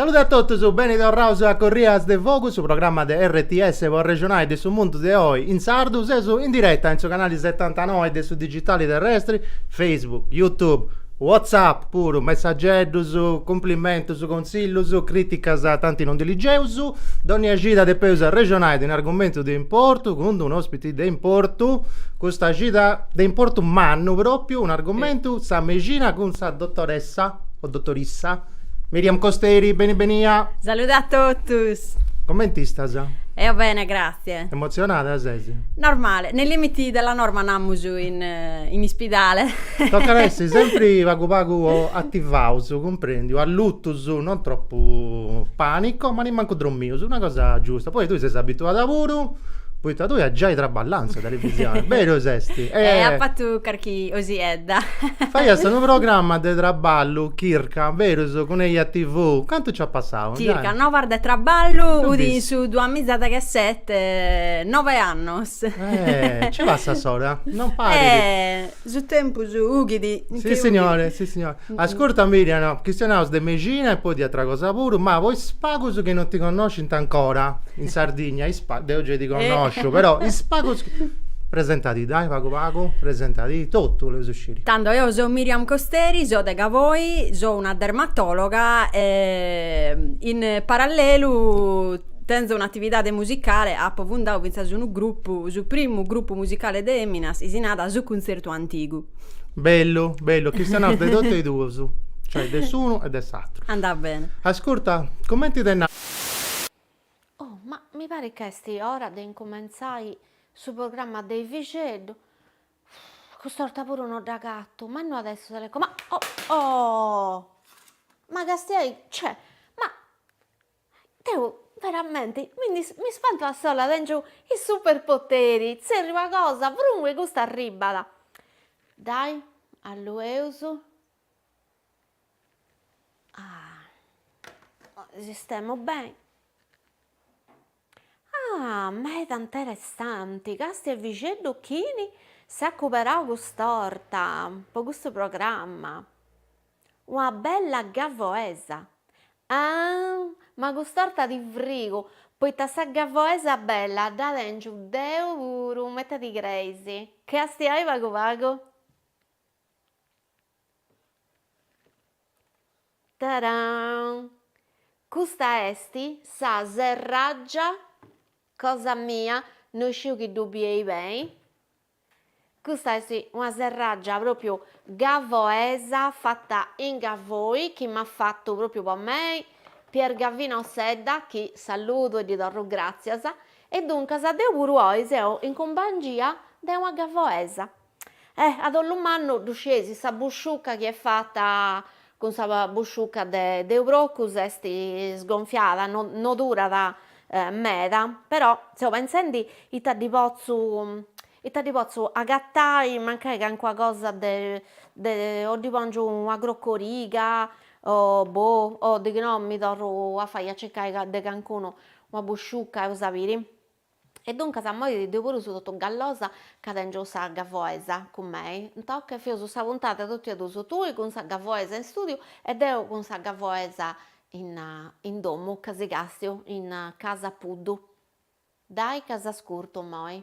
Salude a totus, beni torraus a Corrias de Fogu, su programma de RTS po arrexonai de su mundu de oi in sardu, seus in diretta in su canali setantanoi de su digitali terrestri, Facebook, Youtube, WhatsApp puru, messageddus, cumplimentus, consillus, criticas tanti non ddas ligeus, dònnia cida depeus arrexonai de un'argumentu de importu cun d'unu ospiti de importu custa cida de importu mannu propriu un'argumentu sa mexina cun sa dotoressa o dotorissa Miriam Costeri beni benia Salude a totus Comenti istas? Eo bene grazie Emotzionada ses? Normale nei limiti della norma namus in ispidale Tocat a essi sempri pagu pagu attivaus cumprendiu allutus non troppu panico ma nemmancu drommius una cosa giusta poi tui ses abituada puru Poita tui as giai traballau in sa televisioni, berus esti? E eh, apo fatu carchi osichedda. Faias unu programma de traballu, Chirca, berus cun Eja TV, cantu nci at passau? Circa Noas de Traballu, udi in su duamizas e dechesette, nove annos. Eh, nci passat s'ora, non parit. Eh, su tempus ughidi. Si signore, si signore. Ascurta Miriam no, chistionaus de mexina e poi de atra cosa puru, ma po is pagus chi non ti connoscint ancora in Sardigna, is pagus, deu gei ti connosciu, però is pagus chi, presentadi dai pagu pagu, presentadi, totu boleus sciri. Tando, eo so Miriam Costeri, so de Gavoi, so una dermatologa e in parallelu tenzo un'atividade musicale, apo fundau finzas unu grupu, su primu grupu musicale de eminas, chi si narat Su Cunzertu Antigu. Bellu, bellu, chistionaus de totu e duus, cioè de s'unu e de s'atru. Andat bene. Ascurta, cumenti de nau. Oh, ma mi parit ca est ora de incumentzai su programma de Ivixeddu. Cust'orta puru no dd'agatu, ma no at a essi su teleco. Ma, oh, oh! Ma castiai, cioè, ma. Deu veramenti m'ispantu a sola, tèngiu is superpoteri, tzerriu una cosa, prunc e custa arribbat. Dai allueus sistemu beni, ah meda interessanti, càstia Ivixeddu chini s'at cuberau cust'orta po custu programma. Una bella gavoesa! Aahh! Ma cust'orta ti frigu, poita sa gavoesa bella dda tengiu deu puru, ma ita ti creis. Castiai pagu pagu? Taraann! Custa est sa serraggia cosa mia, no sciu chi ddu bieis beni. Custa est una serraggia propriu gavoesa fatta in Gavoi chi m'at fattu propriu po mei Pier Gavino Sedda chi saludu e ddi torru gràtzias e duncas deu puru oi seu in cumpangia de una gavoesa. Eh, a dolu mannu ddu scieis sa busciucca chi est fatta Cun sa busciuca de procu s'est sgonfiada, no durat meda, però seu pentzendi ita ddi potzu ita ddi potzu agatai mancai calincuna cosa de de o ddi pòngiu una crocoriga o boh o de chi no mi torru a fai a circai de calincunu una busciuca eus a biri E duncas moi deu puru seu totu gallosa ca tèngiu sa gavoesa cun mei, toca feus sa puntada tot'a duus, tui cun sa gavoesa in stùdiu e deu cun sa gavoesa in domu ca si càstiu in Casa Puddu. Dai ca s'ascurtu moi.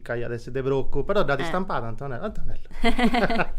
ca iat essi de procu, però dd'at istampada Antonella, oh ta bella.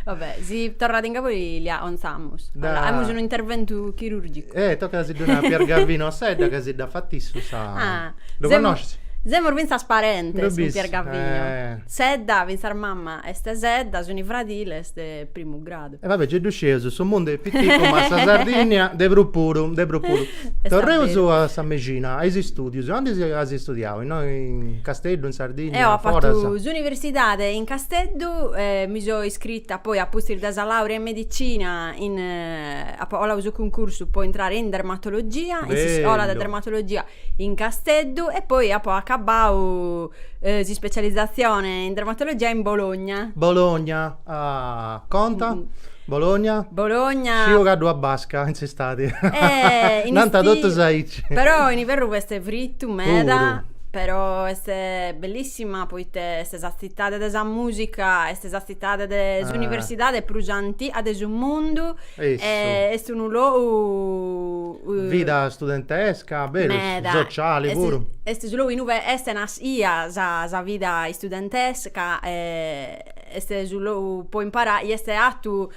Va bè, si torrat in Gavoi li a'onzamus. 'Aimus unu interventu chirurgicu. Eh, tocat a si ddu nai a Pier Gavinu Sedda ca si dda fat issu sa. Ah. Lu connosches? Semus fintzas parentes cun Pier Gavinu. Assedda, fintzas mama est Sedda, suni fradiles de primu grau. E va bè, ge ddu sceus, su mundu est piticu ma sa Sardìnnia de prus puru, de prus puru. Torreus a sa mexina, a is istùdius, aundi as istudiau, innoi in Casteddu, in Sardìnnia, foras? Eo apu fatu s'universidade in Casteddu, mi so iscrita poi apustis de sa làurea in medicina in, apu 'oladu su cuncursu po intrare in dermatologia, in s'iscola de dermatologia in Casteddu e poi apu acabau s'ispecializatzione in dermatologia in Bologna. Bologna Ah, conta? Bologna? Bologna. Sciu ca ddu at basca in s'istadi. Eh, in Nanta istiu. totus aici. Però in iverru est fritu meda. Puru. Però est bellissima poite est sa tzitade de sa musica, est sa tzitade de s'universidade prus antiga de su mundu. Eja. E est unu logu Vida studentesca, berus. Meda. Sociali puru. Est su logu innui est nascia sa vida studentesca e Est su logu po imparare, est 'atu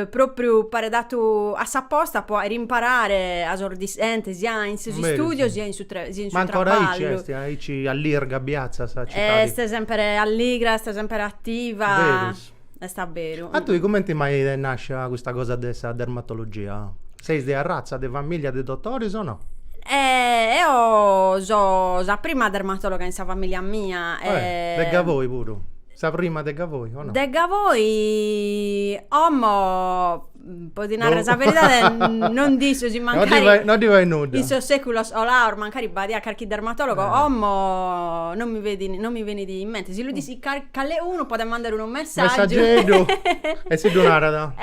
propriu paret 'atu aposta po 'àere imparare a sos dischentes sia in sos Berus, istudios si. sia in su tre sia in su Ma ancora aici traballu. est, aici allirga e biatza sa citadi. Est sempere alligra, est sempere attiva. Berus. Est abberu. A tui cumenti mai t'est nascia custa cosa de sa dermatologia? Seis de arratza de famìllia de dotoris o no? Eo so sa prima dermatologa in sa famìllia mia e. De Gavoi puru? Sa prima de Gavoi o no? De Gavoi omo po ti narrer sa beridade non disso si mancari. No ddi fait nudda. In sos seculos 'olaos mancari b'adiat carchi dermatologo, omo non mi fedin, non mi benit in mente. Si lu dissit cale'unu podet mandare unu messaggiu. Messaggieddu e si ddu narat.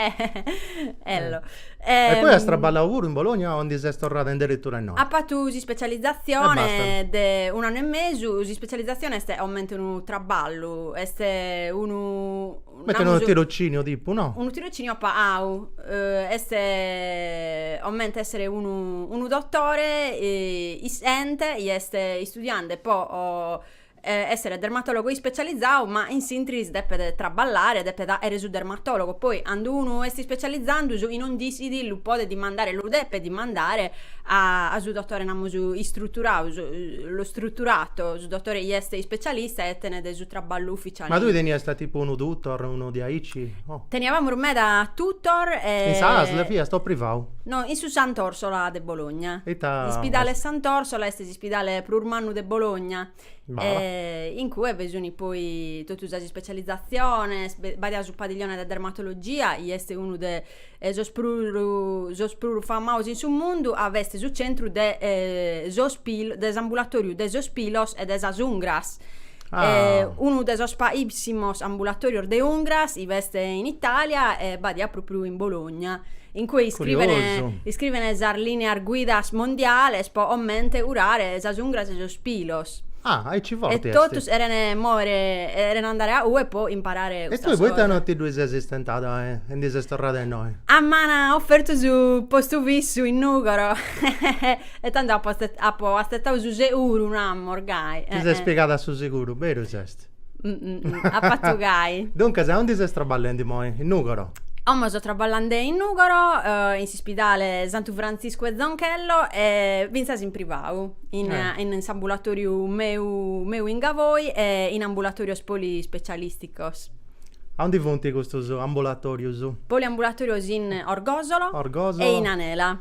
Ello E poi as traballau puru in Bologna o ndi ses torrada in deretura innoi? Apu fatu s'ispecializatzione de un'annu e mesu, s'ispecializatzione est comente unu traballu, est unu, comente unu tirociniu tipu, no? Unu tirociniu pa'au, est comente essere unu unu dotore issiente chi est istudiande po essere dermatologo ispecializau ma in s'interis depet traballare depet aere su dermatologo poi andu unu est ispecializandu su chi non dissit lu podet dimandare lu depet dimandare a a su dotore namus istruturau su lo strutturato su dotore chi est ispecialista e tenet su traballu ufficiale Ma tui teniast tipu unu tutor unu diaici o Teniavamus meda tutor e In sa asl fiast o privau? No in su Sant'Orsola de Bologna Ita Ispidale Sant'Orsola est Ispidale prus mannu de Bologna eh, in cue bi sunt poi totu sas ispecializaziones, b'adiat su padiglione de dermatologia, chi est unu de sos prus sos prus famaos in su mundu, 'a b'est su centru de sos pilos, de s'ambulatoriu de sos pilos e de sas ungras Ah. unu de sos paissimos ambulatorios de ungras 'i b'est in Italia e b'adiat propriu in Bologna, in cue iscrivene iscrivene sas lineas guidas mondiales po omente curare sas ungras e sos pilos. Ah, aici forti est. E totus erene moere erene andare a ue po imparare custa cosa. E tui poita no ti ddui ses istentada e ndi ses torrada a innoi? A m'an ofertu su postu fissu in Nugoro. E tando apo apo atzetau su seguru, namos, gai. Ti ses piegada a su seguru, berus est? Ap'atu gai. Duncas, a ondi ses traballendi moi? In Nugoro? Como so traballande in Nugoro, in s'ispidale Santu Frantziscu e Zonchello e fintzas in privau, in in s'ambulatoriu meu meu in Gavoi e in ambulatorios polispecialisticos. A ondi funt custos ambulatorios? Poliambulatorios in Orgosolo. Orgosolo. E in Anela.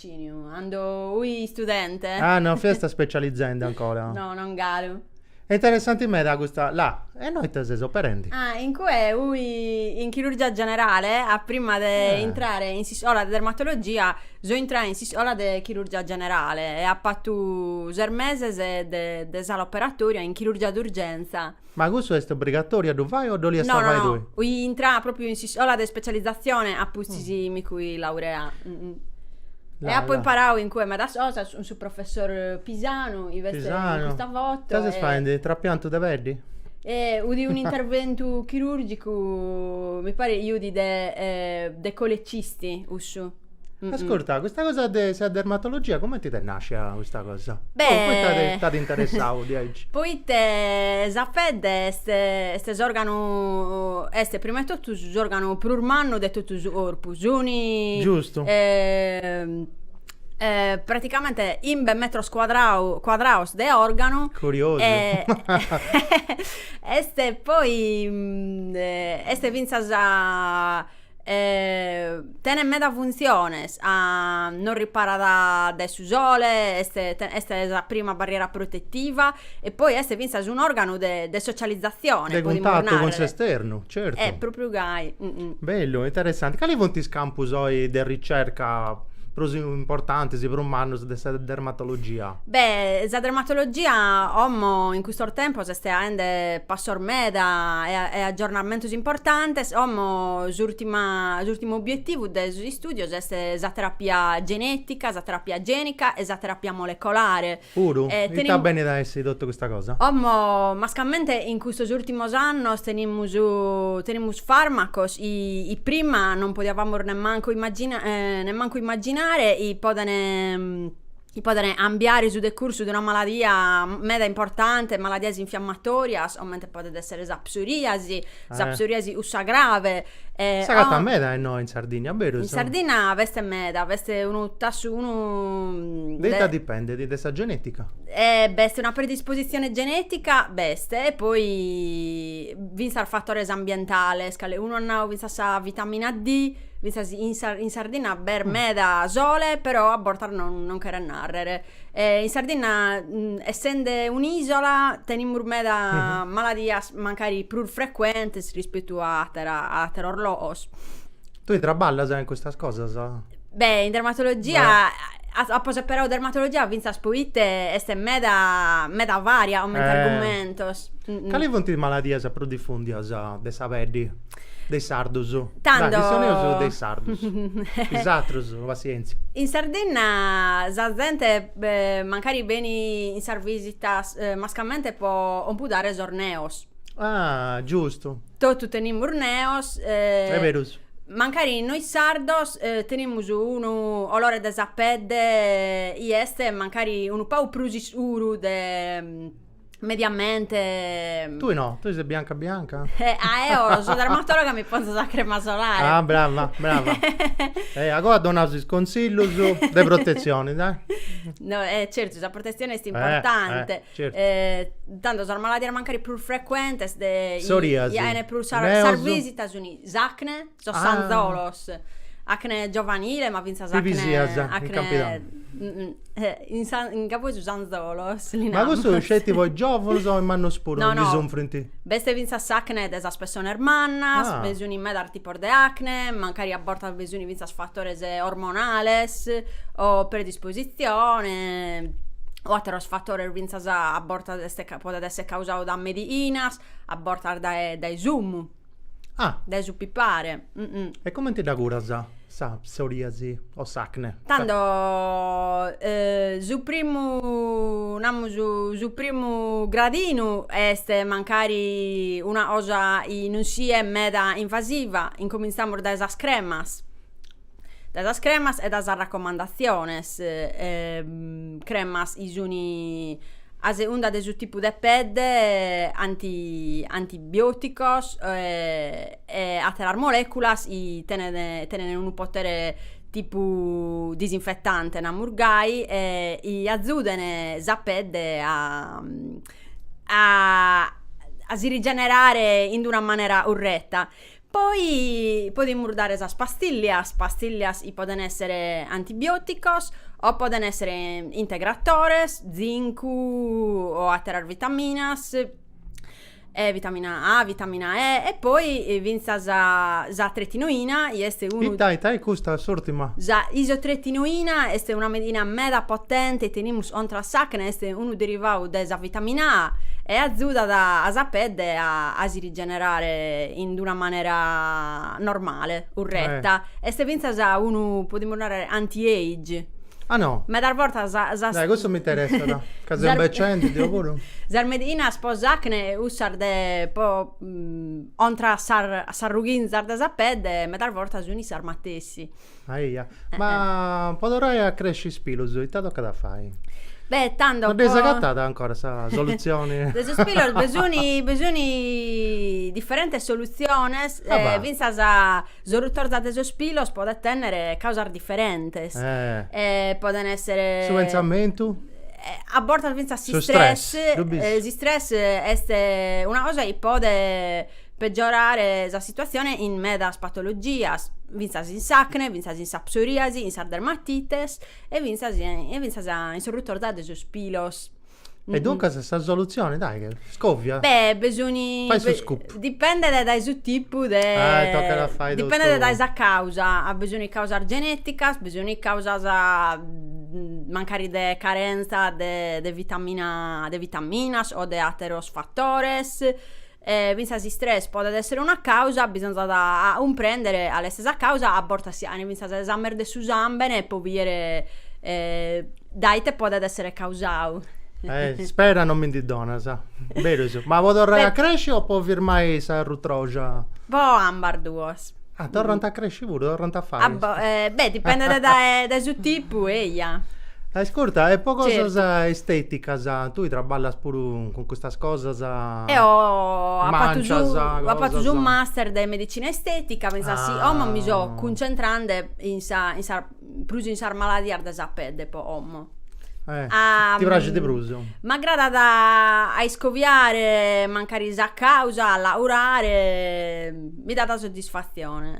Ciniu, Ando ui studente? Ah, no fiast specializende ancora? No, non galu. E interessanti meda custa la. E innoi ite ses operendi? Ah, in cue ui in chirurgia generale a prima de Eh. intrare in s'iscola de dermatologia so intrada in s'iscola de chirurgia generale e ap'atu ses meses de de sala operatoria in chirurgia d'urgenza. Ma cussu est obrigatòriu a ddu fai o dd'oliast No, no, fai no, tui? oi intrai pròpriu in s'iscola de spetzalizatzione apustis mi sui laureau e apu imparau in cue medas cosas cun su professori Pisanu chi est in custa foto Ita ses faendi, trapiantu de peddi? Fudi un'interventu chirùrgicu mi paret chi fudi de de colecisti cussu Ascurta, custa cosa de sa dermatologia cumenti t'est nàscia custa cosa? Beh... t'at interessau diaici? Poita sa pedde est, est s'òrganu, est prima 'e totu s'òrganu prus mannu de totu su corpu. Suni... Giustu. praticamente chimbe metros cuadrau cuadraus de òrganu. Curiosu. E est poi est fintzas E tenet medas funtziones, ca nos riparat dae su sole, est est sa prima barriera protettiva e poi est fintzas un'organu de de socializzazione, de cuntattu cun s'esternu, certu. Eh propriu gai Bellu, interessanti. Cali funt is campus oi de ricerca prus importantis, prus mannus de sa dermatologia? Beh, sa dermatologia como in custos tempos est faende passos meda e e aggiornamentos importantes, como s'urtimu s'urtimu obiettivu de sos istùdios est sa terapia genetica, sa terapia genica e sa terapia molecolare. Puru? Ita benit a essi totu custa cosa? Como mascamente in custos urtimos annos tenimus tenimus farmacos chi prima non podiavamos nemmancu immagina nemmancu immaginare chi podene chi poden cambiare su decursu de una maladia meda importante, maladias infiammatorias, comente podet essere sa psoriasi, sa eh. psoriasi cussa grave. Eh, S'agatat meda innoi in Sardinna, berus? In Sardinna b'est meda, b'est unu tassu, unu... De ita dipendet, de sa genetica? Eh, b'est una predisposizione genetica, b'est, e poi fintzas fatores ambientales, calecunu at nau fintzas sa vitamina D, Fintzas in, in Sardinna b'est mm. meda sole, però a bortas non, non cheret nàrrere. E in Sardinna, mm, essende un'ìsola, tenimus meda mm -hmm. maladias mancari prus frecuentes rispettu a, atera, a ateros logos. Tui traballas in custas cosas? Beh, in dermatologia... Beh apo seperau dermatologia fintzas poite est meda, meda varia comente eh. argumentos. Cali funt is maladias prus difùndias de sa peddi? De is sardus. Tando. Dai, chistioneus de is sardus. Is atrus, passienzia. In Sardinna sa zente mancari beni in sas visitas mascamente po compudare sos neos. Ah, giustu. Totu tenimus neos. Est berus. Mancari nois sardos tenimus unu colore de sa pedde chi est mancari unu pagu prus iscuru de mediamente... Tui no, tui ses bianca bianca? Eh, ah, eo so dermatologa mi ponzo sa crema solare. Ah, brava, brava. eh, agoa donaus is consillus de protezioni, dai. No, eh, certu, sa protezioni est eh, importante. Eh, certu. Eh, tanto sas maladias mancari prus frecuentes de... Soriasi. In ue prus sas, sas visitas suni s'acne. Sos sanzolos, acne giovanile, ma fintzas acne... Pipisias, in campidanu. In cabu 'e susu sanzolos li namus. Ma custu sceti po is giòvunos o is mannos puru no, no. ndi sunfrint? B'est fintzas s'acne de sas pessones mannas, ah. bi sunt medas tipos de acne, mancari a bortas bi sunt fintzas fatores ormonales o predispositzione o àteros fatores fintzas a bortas est podet esser causadu dae medìinas, a bortas dae dae su fumu. Ah! Dae su pipare. E comenti dda curas sa psoriasi o s'acne? Tando su primu, namus, su primu gradinu est mancari una cosa chi non siat meda invasiva, incominzamus dae sas cremas. dae sas cremas e dae sas racomandaziones cremas chi sun a segunda de su tipu de pedde anti antibioticos e atteras moleculas chi tenent tenent unu potere tipu disinfettante namus gai e chi azuden sa pedde a a si rigenerare in d'una manera curretta Poi podimus dare sas pastillias, pastillias chi poden essere antibioticos o poden essere integratores, zincu o àteras vitaminas, e vitamina A, vitamina E e poi fintzas s'isotretinoina chi est unu. Ita, ita est custa s'ùrtima? Sa isotretinoina est una medina meda potente chi tenimus contra a s'acne, est unu derivadu de sa vitamina A e azudat a sa pedde a si generare in d'una manera normale, curreta, est fintzas unu, podimus narrer, anti age. Ah no? Medas bortas sas. Dai cussu m'interessat, ca seu imbecendi deu puru. Sas mediinas pro s'acne e cussas de pro contra a sas ruchinzas de sa pedde medas bortas sunt sas matessi. Aia, ma po torrai a cresci is pilus ita tocat a fai? Beh, tando po. No dd'eis agatada ancora sa solutzioni? De sos pilos bi sun bi sun diferentes solutziones, fintzas sa rutorza de sos pilos podent tenner causas diferentes, podent esser. Su pentzamentu? A bortas fintzas s'istress, s'istress est una cosa chi podet peggiorare sa situatzione in medas patologias, fintzas in s'acne, fintzas in sa psoriasi, in sas dermatites e fintzas e fintzas in s'orrutorza de sos pilos. E duncas sa solutzione, dai, che scovia? Beh, bi sun, Fai su scoop. dipendet dae su tipu de, Ah, e tocat a fai totu. dipendet dae sa causa, bi sun causas geneticas, bi sun causas mancari de carenza de de vitamina, de vitaminas o de atteros fattores, E fintzas s'istress podet èssere una càusa, bisonzat a cumprèndere cale est sa càusa, a bortas si faent fintzas esames de su sàmbene po bìdere dae ite podet èssere causau. Ispera non mi ndi donas. Beru est. Ma po torrai a cresci o po firmai sa rutroja? Po ambas duos. Ah, torrant a cresci puru, torrant a fai. Beh, dipendet dae su tipu, eia. Ascurta, e po cosas esteticas, tui traballas puru cun custas cosas, mancias, cosas. Eo apu fatu su master de medicina estetica, finzas si, como mi so cuncentrande in sa prus in sas maladias de sa pedde po como. Eh, ti praxit prus? M'agradat a iscoviare mancari sa causa, a la curare, mi dat soddisfatzione.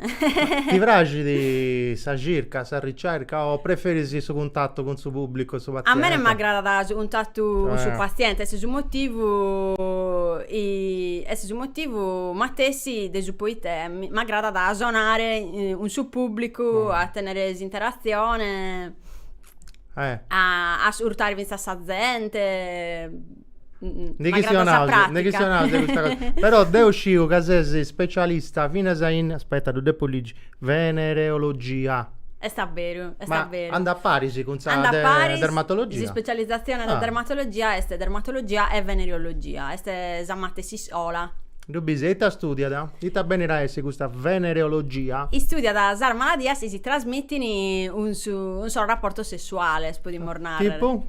Ti praxit sa circa, sa ricerca o preferis su cuntatu cun su pubblicu e su paziente? A mene m'agradat su cuntatu cun su paziente, est su motivu est su motivu matessi de su poita m'agradat a sonare cun su pubblicu, mm. a tenere s'interazione, eh. a ascurtare finzas sa zente. Mm, ne chi sia un'altra, ne chi sia un'altra questa cosa. Però deo sciu ca ses specialista finas in, aspetta, ddu depu ligi, venereologia. Est a beru, est a beru. Andat a paris cun sa de, paris, dermatologia. S'ispecializzazione ah. de dermatologia est dermatologia e venereologia, est sa matessi iscola. Ddu bis e ita studiat? Ita benit a essi custa venereologia? Istudiat sas maladias chi si trasmitin cun sos raportos sessuales, podimus narrer. Tipu?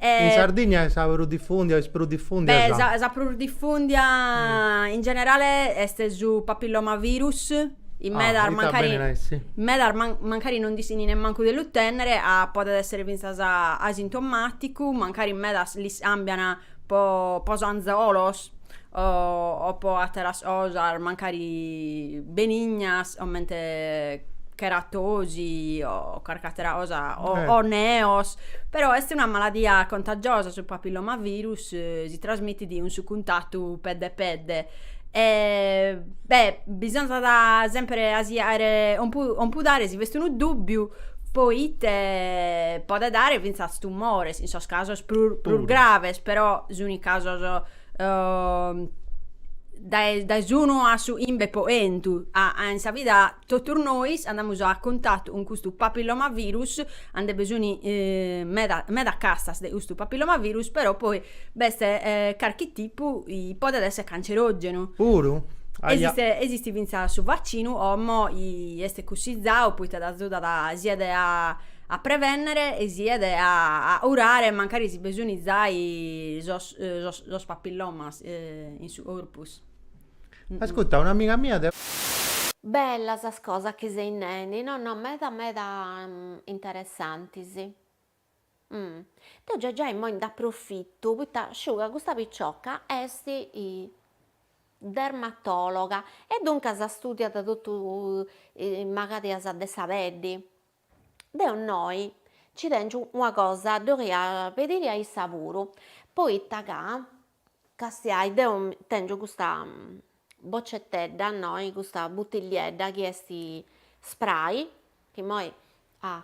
In Sardigna est sa prus difùndia o est prus difùndia sa. Beh, sa prus difùndia in generale est su papillomavirus, in medas mancari. Ah, ita benit a essi? In medas mancari non nd'ischini nemmancu de lu tènnere, podet èssere fintzas asintomàticu, mancari in medas l'iscàmbian po po s'anzolos o o po atteras cosas mancari benignas comente cheratosi o carchi attera cosa o o neos però est una maladia contagiosa su papillomavirus si trasmittit cun su cuntattu pedde pedde e beh bisonzat sempre a si faere compudare si b'est unu dubbiu poite podet dare fintzas tumores, in sos casos prus, prus graves, però suni casos uh, dae, dae s'unu a su imbe po 'entu, a, a in sa vida totus nois andamus a cuntatu cun custu papillomavirus, a nde be suni eh, meda, meda castas de custu papillomavirus, però poi B'est carchi tipu chi podet esser cancerogenu. Puru? Aja. Esistit fintzas su vaccinu 'omo chi est cussizau poita t'azudat siat a prevennere e siat a curare mancari si be suni zai sos papillomas in su corpus. Ascutta, un'amiga mia de. Bella sas cosas chi seis nendi, no no meda meda interessantis. Umm. Deu già già immoi nd'aprofittu poita sciu ca custa picioca est dermatologa e duncas studiat totu is magadias de sa peddi. Deu innoi nci tengiu una cosa ddi 'oria pediri a issa puru, poita ca Castiai deu tèngio custa bocetedda innoi custa butilliedda chi est spray chi imoi ah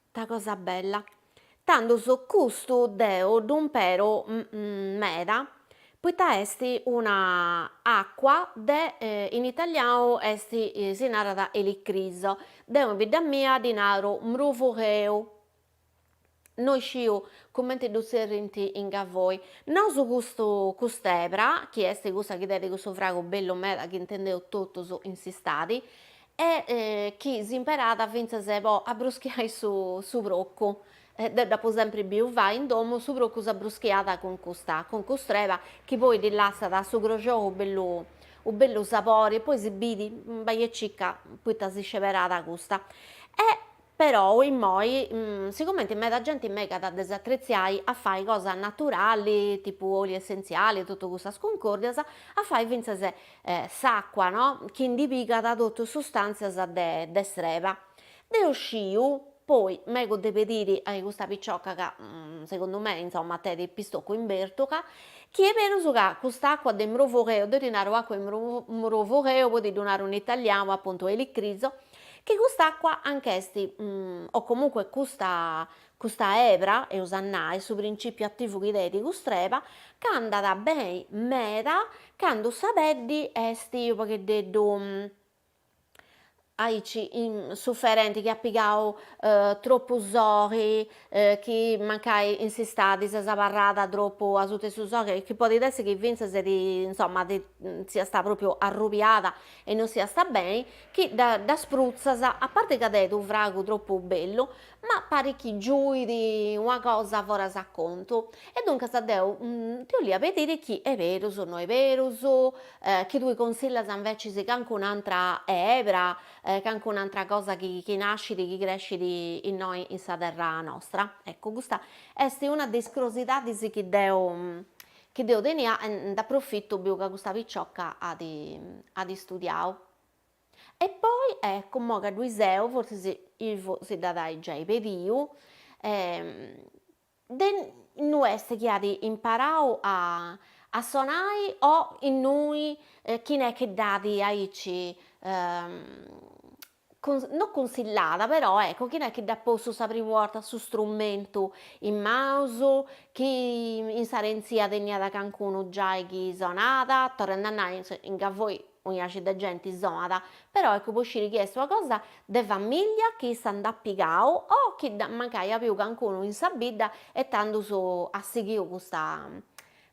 ita cosa bella tandus custu deu ddu impero meda poita est una acua de in italianu est si narat elicriso deu in bidda mia ddi naro mrufugheu no isciu cumenti ddu tzerrint in Gavoi. Nosu custu cust'ebra, chi est cussa chi tenit custu fragu bellu meda chi intendeus totus in s'istadi, e chi s'imperat fintzas po abbruschiai su su procu, deu dd'apu sempri biu fai in domu, su procu s'abbruschiat cun custa cun cust'ebra chi poi ddi lassat su croxou u' bellu u' bellu sapori e poi si biri bai e circa poita si sceberat custa e Perou immoi sigumenti meda genti megat de s'atretziai a fai cosa naturali tipu oli essentziali e totu custas cuncòrdias, a fai fintzas s'acua no, chi ndi pigada totu sustàntzias de de s'ebra. Deu sciu, poi mego de pediri a custa picioca ca segundu mei insomma tenit pistocu in bèrtuga, chi est berus ca cust'acua de mrufugheu, deu ddi naru acua 'e mrufugheu poi ti ddu naru in italianu appuntu elicriso, chi cust'acqua anch'est o comunque custa custa ebra eus a nai su principiu ativu chi tenit cust'ebra ch'andat beni meda candu sa peddi est unu pagheddeddu aici suferenti chi at pigau troppu soghi chi mancai in s'istadi ses abarrada troppu asuta 'e su soghi chi podit essi chi finzas insomma siasta propriu arrubiada e non siasta beni chi ddas prutzas, a parte ca deit unu fragu tropu bellu, ma parit chi giuit una cosa foras a contu, e duncas deu ti 'olia pedire chi 'e perus no 'e perus, chi tue consillas invece cancun'antra ebra, cancun'antra cosa chi chi nascit, chi crescit innoi in sa terra nostra, ecco custa est una de is crosidadis chi deu Chi deu tenia e nd'aprofitu biu ca custa picioca at at studiau. E poi, eccu, imoi ca ddui seu, fortzis Ilvo si dd'at a-i giai pediu, de innui est chi at imparau a a sonai o innui chini est chi dd'at aici no cunsillada però ecco chini est chi dd'at postu sa primu 'orta su strumentu in manus, chi in s'arèntzia teniat cancunu giai chi sonat, torrende a nai inga 'osi unu 'aci de genti sonat, però ecco po sciri chi est una cosa de famiglia chi issa nd'at pigau o chi mancai at biu cancunu in sa bidda e tandus at sighiu custa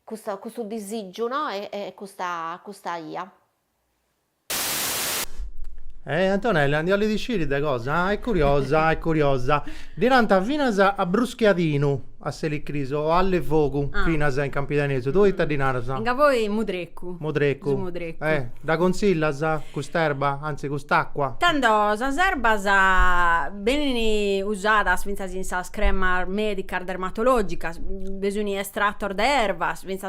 custa custu disìgiu no e custa custa 'ia. E Antonella, giai ndi 'olit sciri de cosa? Ah, est curiosa, est curiosa. Ddi nant finas a abruschiadinu a s'elicrisu o alluefogu finas in campidanesu, tue ita ddi naras? Inga 'osi mudrecu. Mudrecu. Su mudrecu. E dda consillas cust'erba, anzi cust'acqua? Tando sas erbas benin usadas fintzas in sas cremas medicas dermatologicas, bi sun estratos de erbas fintzas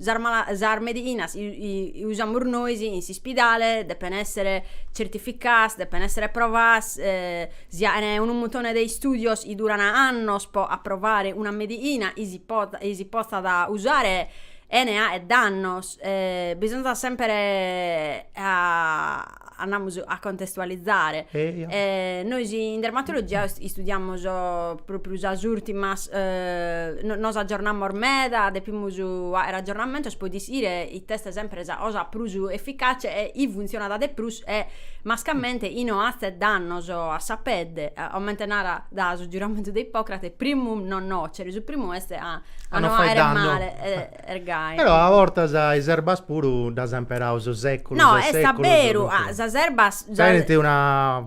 Sas ma sas meighinas usamus nois in s'ispidale depen essere certificaas depen essere approvaas si aen unu muntone de istudios chi duran annos po approvare una meighina chi si pot chi si potzat usare chene aer dannos bisonzat sempre a andamus a contestualizare e nois in dermatologia istudiamus propriu sas urtimas nos aggiornamus meda depimus aer aggiornamentos po ischire ite est sempre sa cosa prus efficace e chi funzionat de prus e mascamente chi no hazet dannos a sa pedde comente narat su giuramentu de Ippocrate primum non nocere su primu est a no fagher male ergai. Però a bortas is erbas puru ddas ant imperau sos seculus e seculus. No, est aberu, sas erbas. Tenint una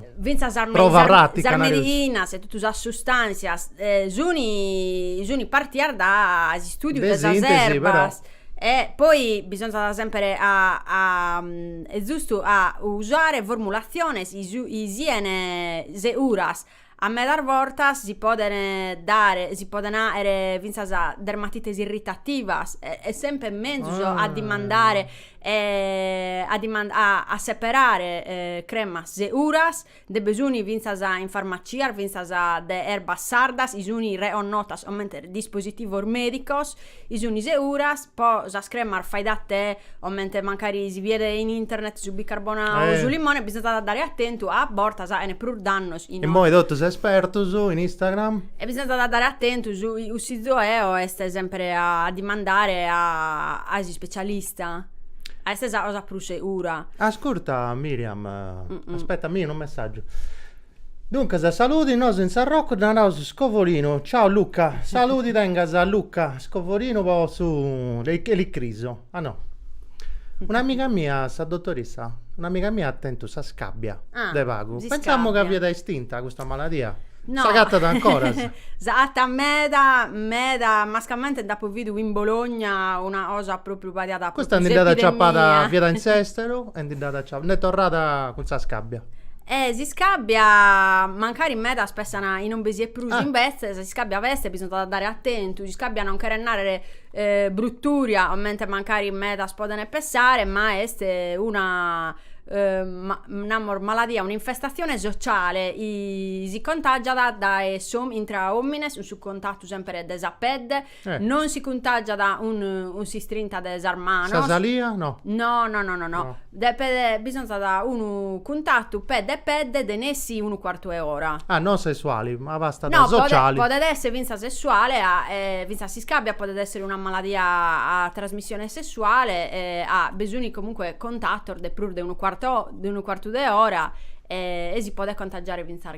prova pratica. Fintzas sas mediinas e totu sas sustanzias sunt partias dae s'istùdiu de sas erbas. E poi bisonzat sèmpere a e zustu a usare formulatziones chi siene seguras A medas bortas si podent dare, si podent àere fintzas dermatites irritativas e est semper menzus a dimandare a dimandare a a seperare cremas seguras, nde bi sun fintzas in farmacias fintzas de erbas sardas, chi sun reconnotas comente dispositivos medicos Chi suni seguras po sas cremas fai da te comente mancari si biet in internet su bicarbonau o su limone bisonzat a dare atentu a bortas faghene prus dannos Immoi totus espertus in Instagram. E bisonzat a dare atentu su cussizu eo est sempre a dimandare a a s'ispecialista est sa cosa prus segura. Ascurta Miriam aspetta mi unu messagiu. Duncas a saludi nosu in Sarrocu dda naraus scovorinu, ciao Luca, saludi tengas Luca scovorinu po su elicrisu, ah no, un'amiga mia sa dotorissa, un'amiga mia at tentu sa scabbia Ah, de pagu, si pensamu ca scabbia. fiat estinta custa maladia, No, s'agatat ancoras? s'agatat meda meda, mascamente nd'apu bidu in Bologna una cosa propriu pariada a Custa ndi dd'at aciapada, fiat in s'esteru e ndi dd'at acia, nd'est torrada cun sa scabbia E s'iscàbbia, mancari medas pensant chi non bi siat prus imbetzes, s'iscàbbia b'est, bisonzat a dare atentu, s'iscàbbia non cheret nàrrere brutùria, comente mancari medas podent pensare, ma est una namus maladia, un'infestatzione sociale, si contàgiat dae intra òmines, cun su contatu sèmpere de sa pedde, Non si cuntàgiat cun s'istrinta de sas manos. Sa salia no. No no no no. Depet bisonzat unu cuntatu pedde e pedde de nessi unu cuartu 'e ora. Ah non sessuali, ma bastat sociali. No, podet esser fintzas sessuale e fintzas s'iscàbia podet esser una maladia a trasmissione sessuale e at bisonzu comunque contatos de prus de unu cuartu de ora e si podet contagiare fintzas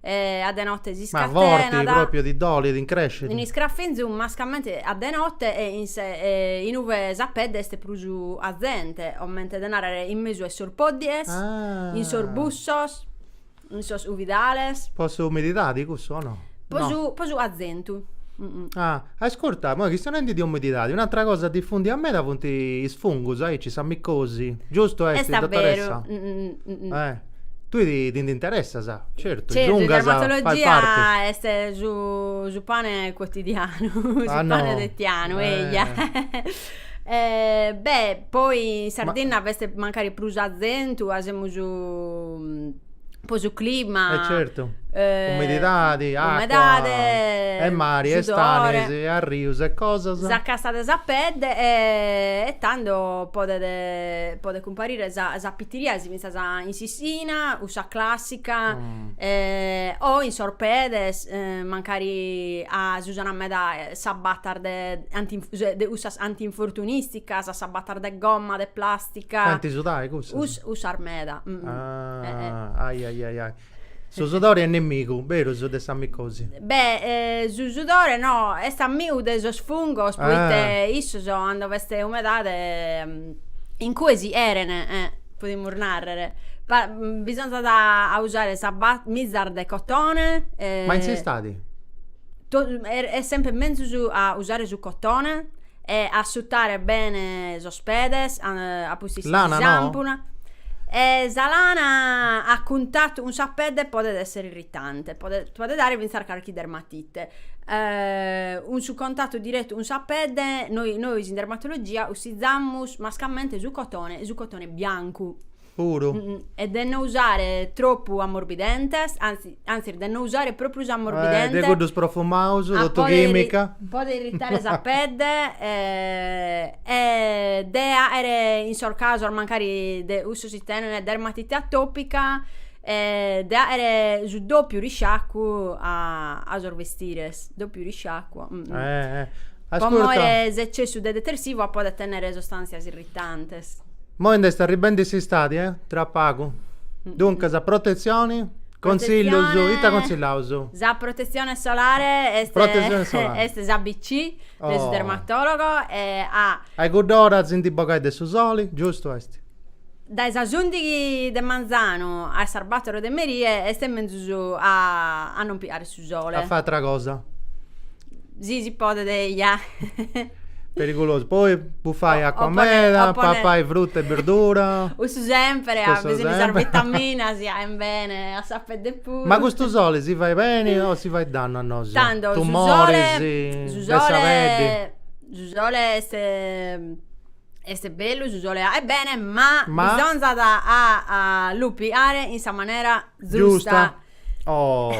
E a de note si scatenat. Ma forti, pròpiu ti dolit, t'incrèscit. Un iscrafinzu mascamente a de note e in in ue sa pedde est prus cazente, comente de nàrrere in mesu 'e sos pòddighes, in sos bussos, in sos cuvidales. Po sa umididadi cussu o no? Po su po su cazentu. Ah, ascurta, moi chistionendi de umididadi, un'atra cosa difundia meda funt is fungus aici, sa micosi, giustu est, dottoressa? Est a beru. Tui ti, ti nd'interessas, certu, Certu, giungas, fai dermatologia parti. est su, su pane quotidianu, su Ah, no. pane fitianu, Eh. eia. Eh, beh, poi in Sardinna b'est mancari prus cazentu, a semus po su clima. Eh certu, Eh, umididadi, acua, umedade, e mari, e sudore, stanis, e arrius, e cosas. Sa casta de sa pedde e tando podet, podet cumparire sa, sa pitiriasi finzas Cantas in s'ìssina, cussa classica, o in sos pedes, mancari s'usana meda sas botas de anti de cussas antinfortunisticas, sas botas de gomma, de plastica. Faint sudai cussas? Cussas meda. Ahh, ahi ahi ahi ahi. Su sudore est nemigu, berus, de sa micosi? Beh, su sudore no, est amigu de sos fungos poita issos cando b'est umedade incue si cherent, podimus nàrrere. Bisonzat a usare sas mizas de cotone. Ma in s'istadi? Est sempre menzus a usare su cotone E assutare bene sos pedes a a pustis de Lana no? sampuna. E sa lana a cuntatu cun sa pedde podet esser irritante, podet podet dare finzas carchi dermatite. cun su contatu direttu cun sa pedde noi nois in dermatologia cussizamus mascamente su cotone, su cotone biancu. Puru. E de no usare tropu amorbidentes, anzi, antzis de no usare propriu s'amorbidente. Eh, de cuddus profumaus, totu chimica. Po podet irritare sa pedde e de aere in sos casos mancari de cussus chi tenen dermatite atopica de aere su dopiu risciacu a sos bestires, dopiu risciacu. Eh eh Po more s'eccessu de detersivu podet tennere sostàntzias irritantes. Moi nd'est arribendi s'istadi, eh? Tra pagu. Duncas, protetzioni, contsillus, ita contsillaus? Sa protetzione solare est Protetzione solare. est s'ABC de su dermatologo e a. A i cudd'ora si ndi bogai de su soli, giustu est? Dae sas ùndighi de manzanu a sas bàtoro de merie est menzus a a non piare su sole. A fàere atra cosa. Si si podet eja. Perigulosu. Poi bufai acua meda, papai fruta e birdura. Cussu sempere, at bisonzu de sas vitaminas chi aen bene a sa pedde puru. Ma custu soli si fait beni o si fait dannu a nosu? Tando su sole. Tumoris de sa peddi. Su sole est Est bellu su sole aet bene, ma, ma... bisonzat a, lu piare in sa manera zusta. Giusta. Oh.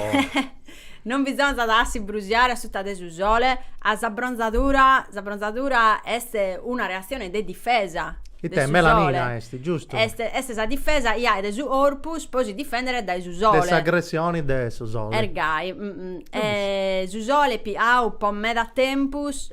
non bisonzat a si brusiare suta de su sole, a sa bronzadura, sa bronzadura est una reazione de difesa. Ite, melanina est, giustu. Est, est sa difesa iai de su corpus po si difendere dae su sole. De s'agressioni de su sole. Est gai. E su sole piau po meda tempus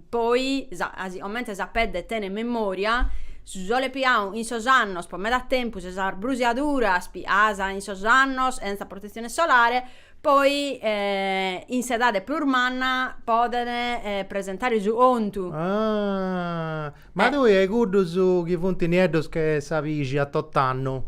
Poi, sa, asi comente sa pedde tenet memoria, su sole piau in sos annos po meda tempus e sas brusiaduras pias in sos annos senza protezione solare, poi in s'edade prus manna podene presentare su contu. Ah! Ma tui a cuddus chi funt nieddos che sa pixi a tot'annu,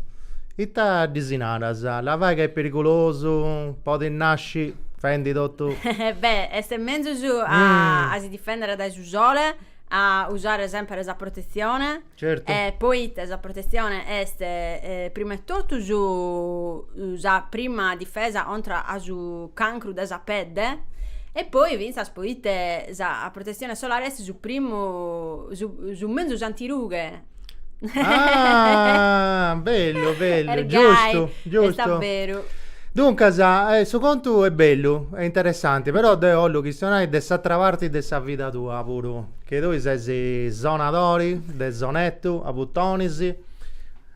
ita ddis naras? Labai ca est perigulosu? Podit nasci fendi totu. Beh, est menzus a si difèndere dae su sole, a usare semper sa protetzione. Certu. E poite sa protetzione est prima 'e totu su sa prima difesa contra a su cancru de sa pedde e poi fintzas poite sa protetzione solare est su primu su su menzus antirughe. Ah, bellu, bellu, Est gai, giustu, est giustu. a beru. Duncas, eh, su contu est bellu, est interessanti, però deu 'ollu chistionai de s'atra parti de sa vida tua puru, che tui ses sonadori de sonettu a butonis.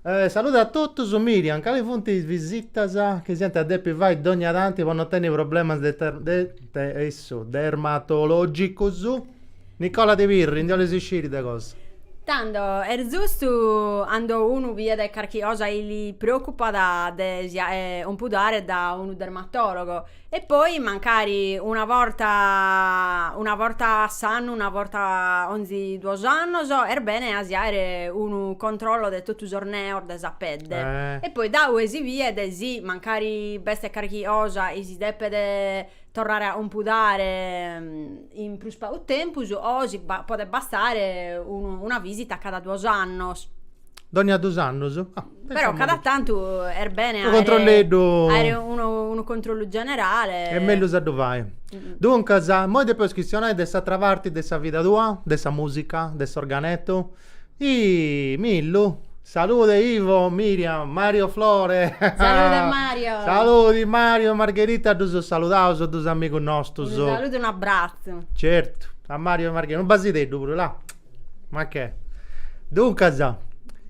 Saluda a totus, Miriam, cali funt is visitas chi s'iant a depi fai dogna tanti po no tenni problemas de de essu, dermatologicus? Nicola de Pirri, ndi 'olis isciri de cosa? Tando, est zustu, cando unu biet carchi cosa chi li preocupat de si ompudare da unu dermatologo, e poi mancari una borta una borta a s'annu, una borta 'onzi duos annos, est bene a si aere unu controllo de totu sos neos de sa pedde, e poi da 'ue si biet si mancari b'est carchi cosa chi si depet torrare a compudare in prus pagu tempus o si podet bastare unu una visita cada duos annos. Dònnia dus annos? Ah. Però cada tantu est bene aere. Unu controlleddu. Aere unu unu controllu generale. Est mellus a ddu fai. Duncas, immoi depeus chistionai de s'atra parti de sa vida tua, de sa musica, de s'organettu. Ih Millu Salude Ivo, Miriam, Mario Flore Salude Mario Saludi Mario e Margherita ddus saludaus dus amigus nostus. Unu saludu e unu abbratzu. Certu a Mario e Margherita, unu basideddu puru là. Ma che. Duncas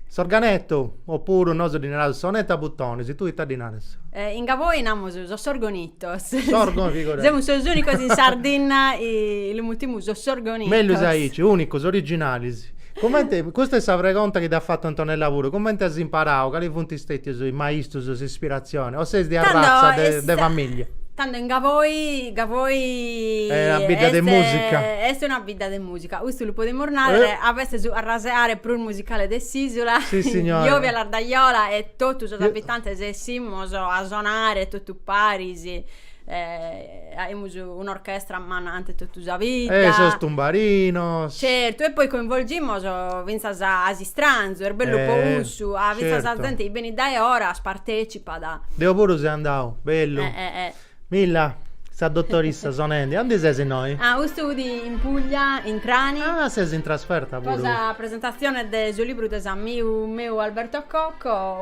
s'organettu oppuru nosu ddi naraus sonettu a butonis, tui ita ddi naras? In Gavoi namus sos orgoni Sorgonitos. Semus sos unicos in Sardinna chi lu mutimus sos orgonitos. Mellus aici, unicos, originalis. Comente, custa est sa pregonta chi t'at fatu Antonella puru, comente as imparau, cali funt stètius is maistus, s'ispiratzioni, o ses de arratza, de famìllia? Tando in Gavoi, Gavoi est una bidda de musica. Est una bidda de musica, custu lu podimus narrer, ca b'est su arraseare prus musicale de s'isula. Si signora. Jovia Lardajola e totu sos abitantes essimos a sonare totu. Paris aimus un'orchestra manna in totu sa vidda. E sos tumbarinos. Certu, e poi coinvolgimos fintzas a s'istranzu, est bellu po cussu, fintzas sa zente chi benit dae oras partecipat. Deo puru seu andau, bellu. Milla, sa dotorissa sonendi, aundi ses innoi? Ah, custu fut in Puglia, in Trani. Ah, ses in trasferta puru. Po sa presentazione de su libru de s'amigu meu Alberto Cocco.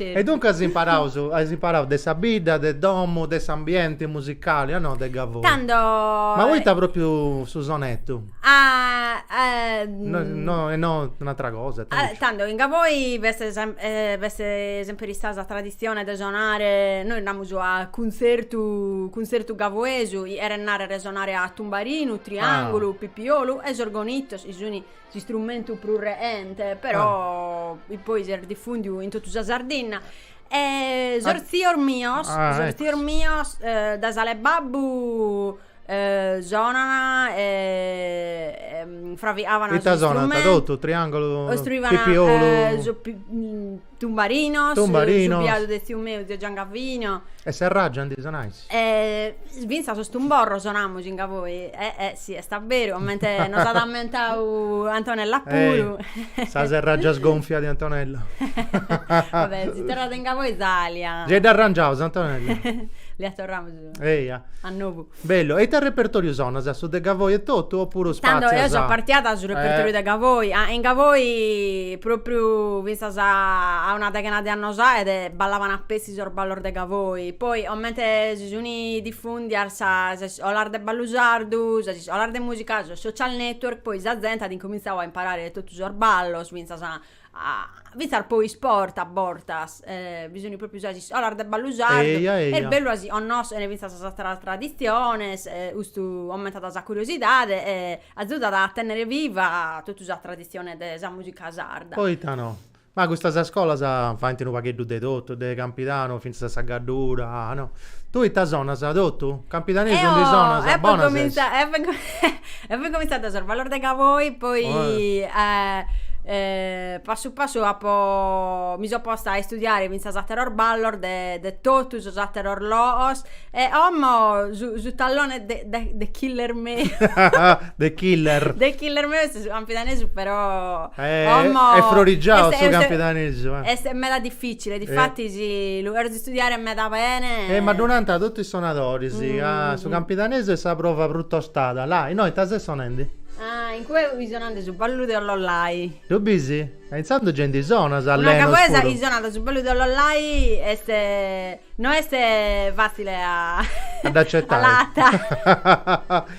E dunque as imparaus, as imparau de sa bidda, de domu, de s'ambienti musicali o no de Gavoi? Tando. Ma poita propriu su sonetu? No, e no un'atra cosa? Tando in Gavoi b'est b'est semper istada sa traditzione de sonare, nois namus a cuntzertu, cuntzertu gavoesu, cheret narrer sonare a tumbarinu, triangulu, pipiolu e sos orgonitos chi sun s'istrumentu prus reente, però ah. poi s'est difundiu in totu sa Sardinna. E sos ah. zios mios, ah, sos ecco. zios mios eh, dae s'ala 'e babbu eh, sonana e, e fraviavana Ita sonana totu, triangolo, pipiolu eh, so, pi, mm, Tumbarinos, Tumbarinos. su biadu de tziu meu, zio Giangavino. E serraggia ndi sonais? E fintzas sos tumborros sonamus in Gavoi, eh eh sì est a beru, comente nos at ammentau Antonella puru. Eh, sa serraggia sgonfia de Antonella. Va bè, si torrat in Gavoi s'alia. Gei dd'arrangiaus Antonella. Lia torramus Eia. A novu. Bellu. E ita repertoriu sonas? Su de Gavoi etotu opuru spatzias? Tando deo so partia dae su repertoriu de Gavoi. In Gavoi propriu finzas a una deghena de annos aede ballaban a petzi sos ballos de Gavoi. Poi comente si sun diffundias sas iscolas de ballu sardu, sas iscolas de musica, sos social network, poi sa zente at incumintzau a imparare totu sos ballos finzas fintzas po isport a bortas bi sunu propriu sas iscolas de ballu sardu Eia eia Est bellu a si connoschere fintzas sas traditziones e custu aumentat sa curiosidade e agiudat a tenner viva totu sa traditzione de sa musica sarda. Poita no. Ma custas scolas faint unu pagheddu de totu, de campidanu fintzas a sa Gaddura, no. Tui ita sonas, totu? Campidanesu ndi sonas? Bona ses. E apo incomintzau dae sos ballos de Gavoi, poi passu passu apo mi so posta a istudiare fintzas ateros ballos de de totu sos ateros loos e omo su su tallone de de de killer meu de killer de killer meu est su campidanesu però omo est frorigiau su campidanesu est meda difficile difatis lu Studiare meda bene. E ma ddu nant totu is sonadoris, ca su campidanesu est sa prova prus tostada. La', innoi ita ses sonendi? Ah, in cue fia sonande su ballu de Ollolai. Ddu bis? E intzandus gei ndi sonas, allenus puru. Una gavoesa chi sonat su ballu de Ollolai est, no est fatzile a. A dd'acetai. A la.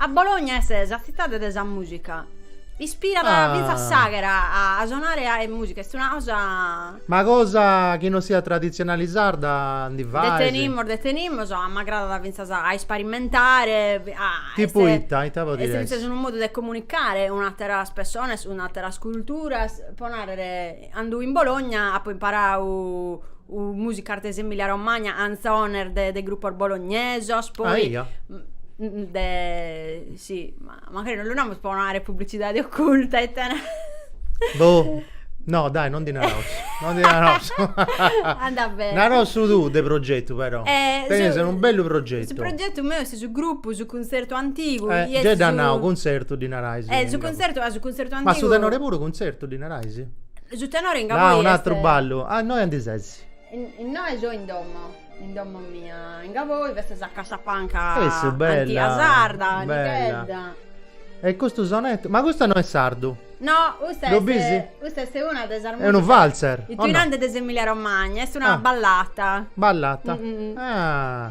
A Bologna est sa tzitade de sa mùsica. Ispirat ah. fintzas s'àghera a sonare a e mùsica. Est una cosa... Ma cosa chi non siat traditzionali sarda ndi fais? Nde tenimus, nde tenimus, a m'agradat fintzas a isperimentare. A, Tipu est, ita, ita podit essi? Est fintzas unu modu de comunicare cun àteras persones, cun àteras culturas. Po nàrrere, cando in Bologna apu imparau Musicas de s'Emilia Romagna, anzones de, de grupos bolognesos, poi... Aia. De, si, ma magari non lu namus po non aere publicidade oculta, it'an... Boh. No, dai, non ddi naraus. Non ddi naraus. Andat bene. Naraus su tuu de progetu però. Eh, Tenis unu bellu progetu. Su progetu meu est su grupu, su cuntzertu antigu. Eh, gei dd'as nau, cuntzertu ddi narais. Eh, su cuntzertu, ah, su cuntzertu antigu. Ma su tenore puru cuntzertu ddi narais? Su tenore in Gavoi est. Ah, un'atru ballu. Ah, innoi aundi ses? Innoi so in domo, in domo mia. In Gavoi. Custa est sa cassapanca. Cessu, bella. A tia sarda, a nichedda. E custu sonettu, ma custa no est sardu? No, custa est. Ddu bisi? Custa est una de sas. Est unu valzer. Itinerante de s'Emilia Romagna, est una ballata. Ballata. Ah.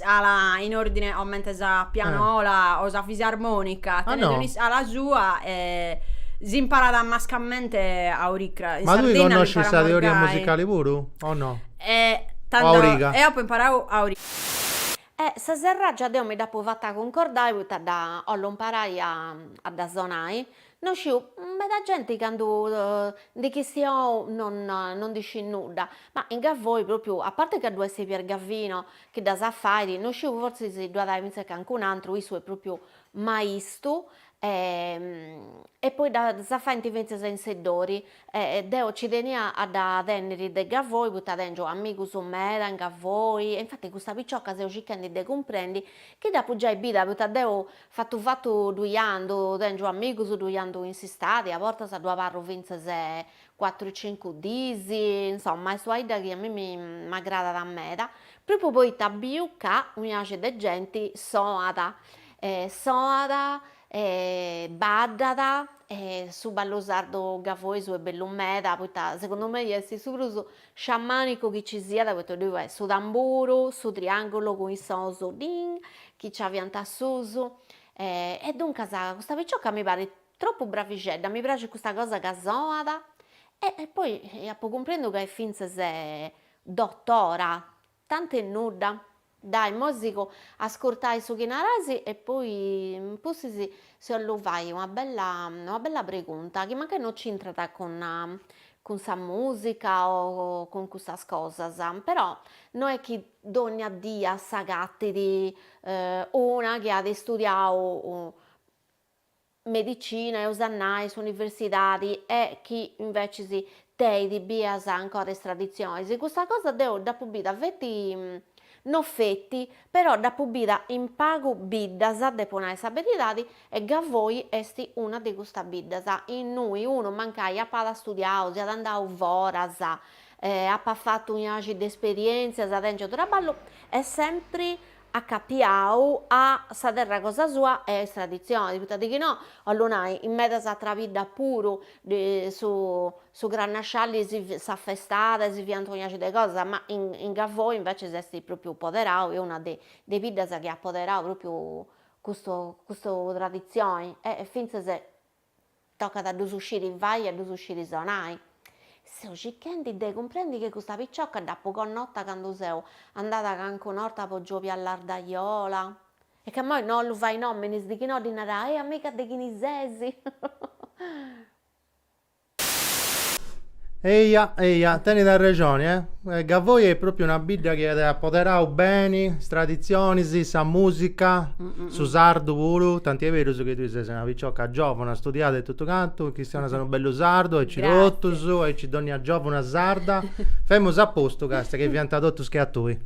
Ala in ordine omente sa pianola eh. o sa fisarmonica tenet un'iscala sua e s'imparat mascamente a oricra ma tui connoscis sa teoria musicali puru o no e tando o a origa eo apo imparau a origa e sa serraggia deo mi dd'apo fatta cuncordai poita dda 'ollu imparai a dda sonai No sciu, meda genti candu ndi chistiou non non ndi scit nudda, ma in Gavoi propriu, a parte ca ddu est Pier Gavino chi ddas fait, no sciu fortzis ddu at ai fintzas cancun'antru, issu est propriu maistu e e poi ddas faint fintzas in Seddori e deo nci tenia a dda tenniri de Gavoi poita tengiu amigus meda in Gavoi e infati custa picioca seu circhendi de cumprendi chi dd'apu giai bida poita deu Fatu fatu ddui andu, tengiu amigus ddui andu in s'istadi, a bortas ddu abarru fintzas cuatru cincu diis, insoma est una 'idda chi a mimi m'agradat meda, propriu poita biu ca unu axi de genti soat, soat e baddat e su ballu sardu gavoesu est bellu meda, poita segundu mei est su prus Sciamànicu chi ci siat poita ddoi est su tamburu, su triàngulu cun is sonus ding chi nci aviant a susu e duncas custa picioca mi parit tropu bravixedda, mi praxit custa cosa ca soat e poi apu cumprendu ca est fintzas dotora Tant'e nudda. Dai, moi sigu a ascurtai su chi narais e poi in pustis si 'ollu fai una bella una bella pregunta chi mancai no c'intrat cun cun sa musica o cun cussas cosas, però no est chi dogna dii s'agatit una chi at istudiau medicina, eus a nai s'universidadi e chi invecis teit bias ancora is traditzionis, custa cosa deu dd'apu bida feti, no feti, però dd'apu bida in pagu biddas, depu nai sa beridadi, e Gavoi est una de custas biddas, innui unu mancai apat astudiau, siat andau foras, apat fatu un'axi de esperientzias tengiu traballu, est sempri acapiau a sa terra cosa sua e a is traditzionis, poita de chi no, 'ollu nai, in medas atras biddas puru su su crannasciali sì s'afestat e si fiant un'axi de cosas, ma in in Gavoi invecis est propriu poderau, est una de de is biddas chi at poderau propriu custu custu traditzioni e fintzas Tocat a ddus sciri fai e a ddus sciri sonai. Seu circhendi de cumprendi chi custa picioca dd'apu connota candu seu andada cancuna 'orta po Giòbia Lardajola. E ca moi no 'ollu fai nòminis de chi no ddi narai, e amiga de chini ses? Eja, eja, tenit arrexoni, eh! Gavoi est pròpriu una bidda chi at apoderau beni is traditzionis, sa mùsica, su sardu puru, tanti est berus chi tui ses una picioca giòvuna, studiada e totu cantu, chistionas unu bellu sardu, aici totus, aici dònnia giòvuna sarda, femus a postu, càstia, chi fiant totus che a tui.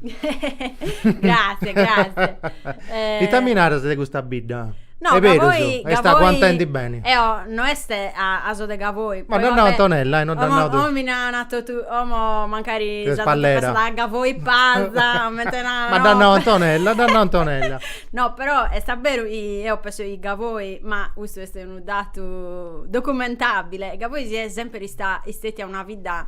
Gràssias, gràssias. Ita mi naras de custa bidda? No, est berus, Gavoi, eo no est a so de Gavoi, ma dd'at nau Antonella, omo mi narant totu, omo mancari chi est pallera, Gavoi pasa, ma dd'at nau Antonella, dd'at nau Antonella, no però est a beru chi eo penso chi Gavoi, ma custu est unu datu documentabile, Gavoi si est semper ist, istetia una bidda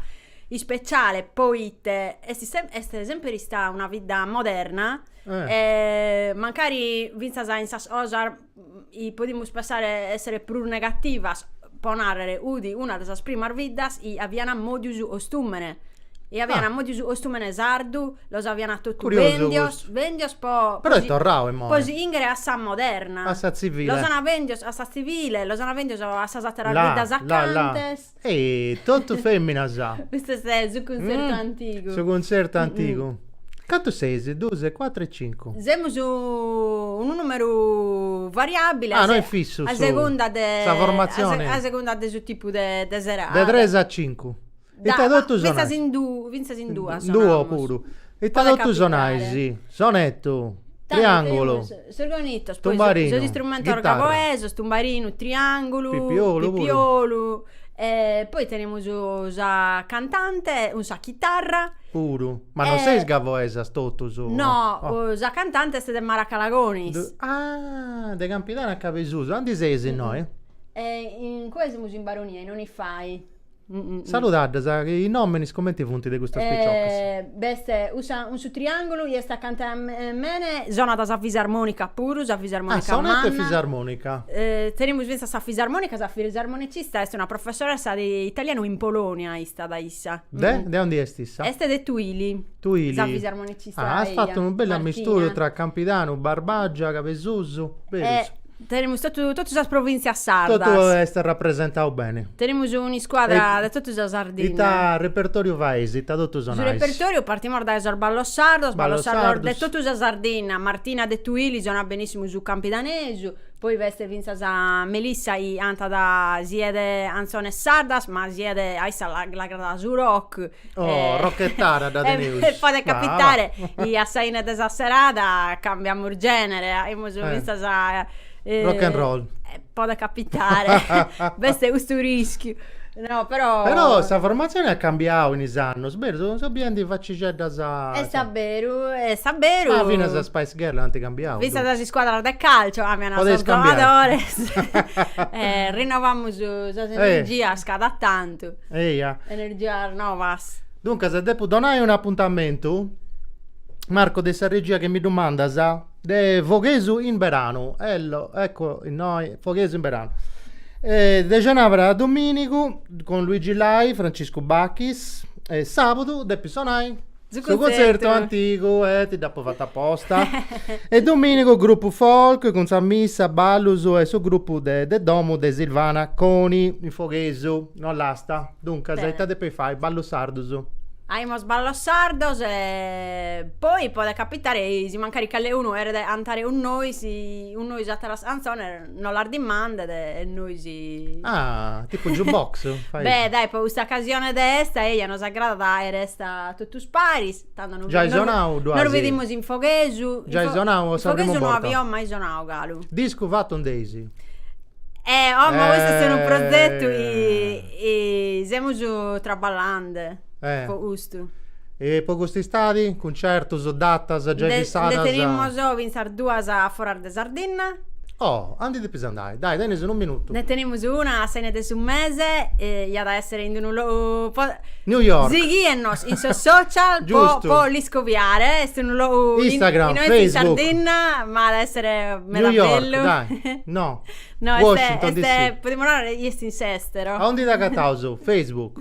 ispeciale, poite est est semper istada una bidda moderna Eh. mancari fintzas in sas cosas i podimus pensare a essere prus negativas, po narrer, udi una de sas primas biddas i avian mòdiu su ostùmene i avian mòdiu su ostùmene sardu, los avian totus Curiosu custu Bèndios, bèndios po Però est torrau imoi po si inghere a sa moderna A sa tzivile Los ana bèndios a sa tzivile, los ana bèndios a sas àteras biddas acantes Ehi, totu feminas. Custu est su cuntzertu antigu. Su cuntzertu antigu. Cantu seis? Duus, cuatru e cincu. Semus in numeru variabili. Ah, no est fissu su. A segunda de. Sa formatzioni. A segunda de su tipu de serada. De tres a cincu. Ita totu sonais. Fintzas in duu, fintzas in duas sonaus. In duo puru. Ita totu sonais. Sonetu. Triangulu. Sorgonitos, poi sos istrumentos gavoesos, tumbarinu, triangulu, pipiolu, poi tenemus sa cantante cun sa chitarra, puru, ma non seis gavoesas totus, no, sa cantante est de Maracalagonis, ah de Campidanu a Cabesusu, aundi seis innoi? Incue semus in Baronia in Onifai. Saludaddas, chi is nominis cumenti funt de custas piciochis? B'est cussa cun su triangulu, chi est acanta a mene, sonat sa fisarmonica puru, sa fisarmonica manna. Ah, sonat fisarmonica. Tenemus fintzas sa fisarmonica, sa fisarmonicista est una professoressa de italianu in Polonia istat issa. De? De aundi est issa? Est de Tuili. Tuili. Sa fisarmonicista eia. Ah, as fatu unu bellu amisturu tra Campidanu, Barbagia, Cabesusu, berus? Tenemus totu totu sas provìntzias sardas. Totu est arrapresentadu beni. Tenemus un'iscuadra de totu sa Sardinna. Ita repertòriu fais, ita totu sonais? Su repertòriu partimus dae sos ballos sardos, ballos sardos de totu sa Sardinna, Martina de Tuili sonat benìssimu su campidanesu, poi b'est fintzas Melissa chi cantat siat de 'antzones sardas ma siat a issa l'agradat su rock, Oh, rocchettara teneus. E podet capitare, 'i a sa ine de sa serada cambiamus genere, aimus eh. fintzas a... Eh, Rock and roll. Eh, podet capitare, b'est custu rischiu. No, però... Però sa formatzione at cambiau in is annus, berus, seu biendi facixeddas... Est a beru, est a beru. Ma finas is Spice Girls ant cambiau. Fintzas is scuadras de calcio cambian sos giogadores. e rinovamus sas energias cada tantu. Eja. Energias novas. Duncas, depu donai un'apuntamentu, Marco, de sa regia chi mi ddu mandas, de Foghesu in Beranu. Ello, ecco innoi, Foghesu in Beranu. Eh, de xenàbara a domìnigu, cun Luigi Lai, Franciscu Bacchis, e sàbudu depit sonai. Su cuntzertu antigu e ti dd'apo fatu aposta. E dominigu grupu folk cun sa missa, ballus e su grupu de de domu de Silvana Coni in Foghesu, Ollasta. Duncas Bene. ita depeis fai? Ballus sardus. Aimus ballus sardus e poi podet capitare si mancari cali'unu cheret antare cun nois, cun nois a ateras canzones Nos las dimandet e nois. Ah, tipu jukebox? Beh, dai, po custa ocasione de esta, eja, nos agradat a aer esta totus paris, tando no. Giai sonau ddu as. Nos bedimus in Foghesu. Giai sonau o sa primu borta? In Foghesu no avio mai sonau galu. Discu fatu nd'eis? Eh, oh, ma custu est unu progetu chi semus traballende. Eh. Po custu. E po cust'istadi? Cuncertus, datas giai Nde fissadas? nde tenimus fintzas duas foras de Sardinna. Oh, a ndi depis andai. Dai, tenis unu minutu. Nde tenimus una a s'ine de su mese, iat a esser in d'unu logu po New York. Sighiennos in sos social po Giustu. po l'iscoviare, est unu logu in Instagram, in ointi in Facebook. Sardinna, ma at a esser meda New York, bellu. dai. No. No, est Washington, est DC. podimus narrer chi est in s'estero. A undi t'agataus? Facebook.